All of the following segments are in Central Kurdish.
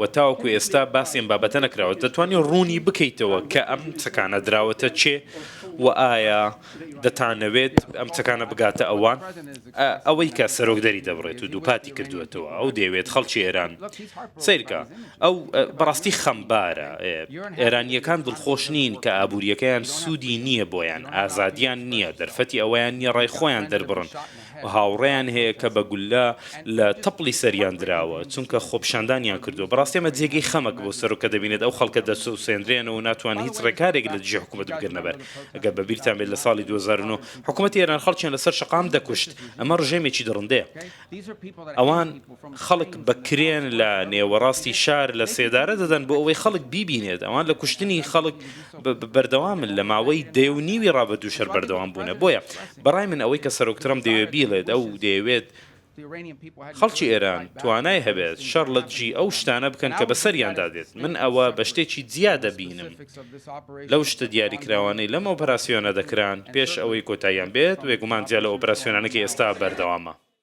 وە تاوەکو ئێستا باسی ئەم بابەتە نەکراوە دەتوانی ڕوونی بکەیتەوە کە ئەم چەکانە دراوەتە کێ و ئایا دەتانەوێت ئەم چەکانە بگاتە ئەوان؟ ئەوەی کە سەرۆک دەری دەبڕێت و دووپاتی کردووەتەوە ئەو دەیەوێت خەڵکی ئێران سەیرکە ئەو بەڕاستی خەمبارە ئێرانییەکان دڵخۆش نین کە ئابوورییەکەیان سوودی نییە بۆیان ئازادییان نییە دەرفەتی ئەوەیان نییە ڕای خۆیان دەربڕن هاوڕێیان هەیە کە بە گوللە لە تەپڵی سەریان دراوە چونکە خۆپیشاندانیان کردووە، بەڕاستی ئەمە جێگەی خەمە کە بۆ سەرۆک کە دەبینێت ئەو خەڵکە دەچەوسێنرێنەوە و ناتوانن هیچ ڕێکارێک لە دژی حکومەت بگرنە بەر، ئەگەر بە بیرتان بێت لە ساڵی دوو هەزار و نۆ حکومەتی ئێران خەڵکیان لە سەر شەقام دەکوشت، ئەمە ڕژێمێکی دڕندەیە، ئەوان خەڵک بە کرێن لە نێوەڕاستی شار لە سێدارە دەدەن بۆ ئەوەی خەڵک بیبینێت، ئەوان لە کوشتنی خەڵک بەردەوامن لە ماوەی دەیەو نیوی ڕابردووش هەر بەردەوام بوونە، بۆیە بەڕای من ئەوەی کە سەرۆک ترەمپ دەیەوێت بیڵێت ئەو دەیەوێت خەڵکی ئێران توانای هەبێت شەڕ لە دژی ئەو شتانە بکەن کە بەسەریاندا دێت، من ئەوە بە شتێکی جیا دەبینم لەو شتە دیاریکراوانەی لەم ئۆپەراسیۆنە دەکران پێش ئەوەی کۆتاییان بێت، بێگومان جیا لە ئۆپەراسیۆنانەی کە ئێستا بەردەوامە.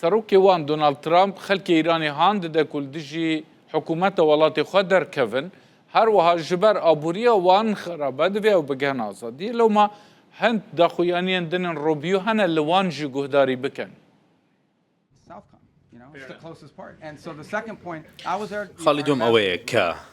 سەرۆکێ وان دۆناڵد ترامپ خەلکێ ئیرانێ هان ددە کول دژی حکوومەتە وەڵاتێ خوە دەرکەڤن، هەروەها ژ بەر ئابووریە وان خرابە دڤێ ئەو بگهن ئازادیێ. لەوما هند داخویانیێن دنن روبیو هەنە ل وان ژ گوهداری بکەن. خاڵی دووەم ئەوەیە کە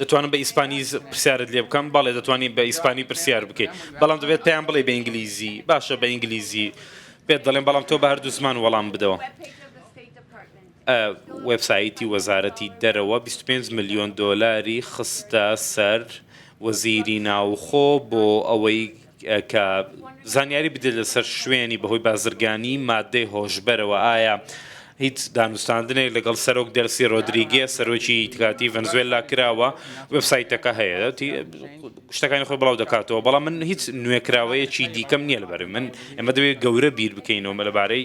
دەتوانم بە ئیسپانی پرسیارت لێ بکەم بەڵێ دەتوانانی بە ئیسپانی پرسیار بکەیت بەڵام دەبێت پێیان بڵێ بە ئینگلیزی باشە بە ئینگلیزی پێت دەڵێن بەڵام تۆ بە هەردوو زمان وەڵام بدەوە وبسایتی وەزارەتی دەرەوە 25 ملیۆن دۆلاری خستە سەر وەزیری ناوخۆ بۆ ئەوەی کە زانیاری بدێت لەسەر شوێنی بەهۆی بازرگانی مادەی هۆشبەرەوە ئایا هیچ دانوستاندنێک لەگەڵ سەرۆک دەرسی رۆدریگێ سەرۆکی تکاتی ڤنزوێلا کراوە وبسایتەکە هەیە شتەکانی خۆی بڵاو دەکاتەوە بەڵام من هیچ نوێکراوەیەکی دیکەم نییە لەبەر من ئەمە دەوێت گەورە بیر بکەینەوە لەبارەی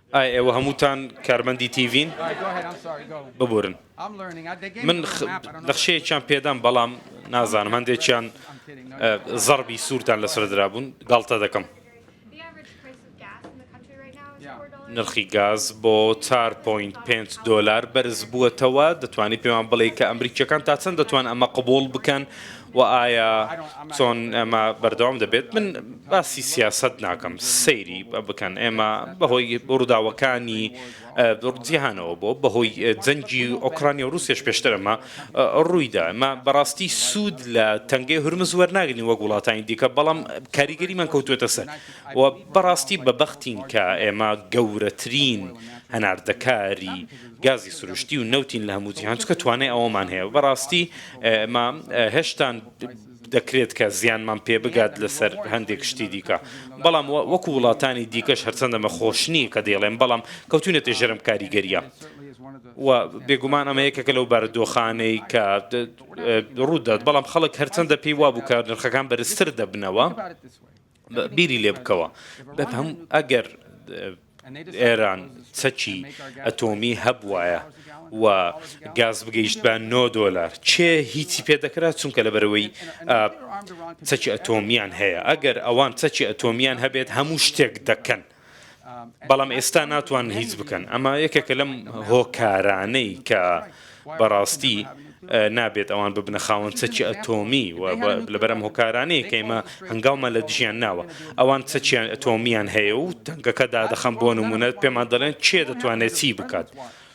ئایا ئێوە هەمووتان کارمەندی تیڤین؟ ببورن من نەخشەیەکیان پێدام بەڵام نازانم هەندێکیان زەڕبی سوورتان لەسەر درابوون گاڵتە دەکەم. نرخی گاز بۆ چار پۆینت پێنج دۆلار بەرزبووەتەوە، دەتوانی پێمان بڵێی کە ئەمریکییەکان تا چەند دەتوان ئەمە قبووڵ بکەن؟ وە ئایا چۆن ئەمە بەردەوام دەبێت؟ من باسی سیاسەت ناکەم سەیری بکەن ئێمە بەهۆی ڕووداوەکانی جیهانەوە بۆ بەهۆی جەنگی ئۆکرانیا و رووسێش پێشتر ئەمە ڕوویدا ئەمە بەڕاستی سوود لە تەنگەی هورمز وەرناگرین وەک وڵاتانی دیکە بەڵام کاریگەریمان کەوتوێتە سەر و بەڕاستی بە بەختین کە ئێمە گەورەترین هەناردەکاری گازی سروشتی و نەوتین لە هەموو جیهان چونکە توانای ئەوەمان هەیە و بەڕاستی ئێمە هێشتا دەکرێت کە زیانمان پێ بگات لەسەر هەندێک شتی دیکە بەڵام وەکو وڵاتانی دیکەش هەرچەندە مە خۆش نییە کە دەیڵێم بەڵام کەوتونەتە ژەرم کاریگەریە و بێگومان ئەمە یەکێکە لەو بارودۆخانەی کە ڕوودات بەڵام خەڵک هەرچەندە پێی وابوو کە نرخەکان بەرزتر دەبنەوە بیری لێ بکەوە بەپەم ئەگەر ئێران چەکی ئەتۆمی هەبواە و گاز بگەیشت بە 9 دلار چێ هیچی پێ دەکرا چونکە لە بەرەوەی چەکی ئەتۆمیان هەیە ئەگەر ئەوان چەکی ئەتۆمیان هەبێت هەموو شتێک دەکەن بەڵام ئێستا ناتوان هیچ بکەن ئەمە یەکێکە لەم هۆکارانەی کە بەڕاستی نابێت ئەوان ببنە خاوەن چەکی ئەتۆمی و لەبەرم هۆکارانەیە کەیمە هەنگاومە لە دژیان ناوە ئەوان چەکیان ئەتۆمیان هەیە و تەنگەکە دادەخەم بۆ نمونەت پێمان دەڵێن چێ دەتوانێت چی بکات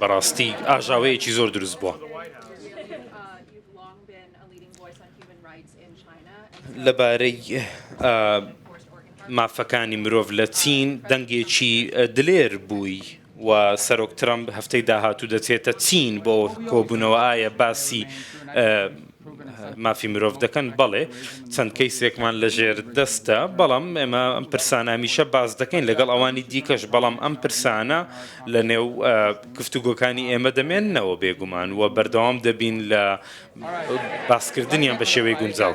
بەڕاستی ئاژاوەیەکی زۆر دروست بووە. لەبارەی مافەکانی مرۆڤ لە چین دەنگێکی دلێر بووی و سەرۆک ترەمپ هەفتەی داهاتوو دەچێتە چین بۆ کۆبوونەوە ئایا باسی مافی مرۆڤ دەکەن، بەڵێ چەند کەیسێکمان لە ژێر دەستە، بەڵام ئێمە ئەم پرسانە هەمیشە باس دەکەین لەگەڵ ئەوانی دیکەش، بەڵام ئەم پرسانە لە نێو گفتوگۆکانی ئێمە دەمێننەوە بێگومان و بەردەوام دەبین لە باسکردنیان بە شێوەی گونجاو.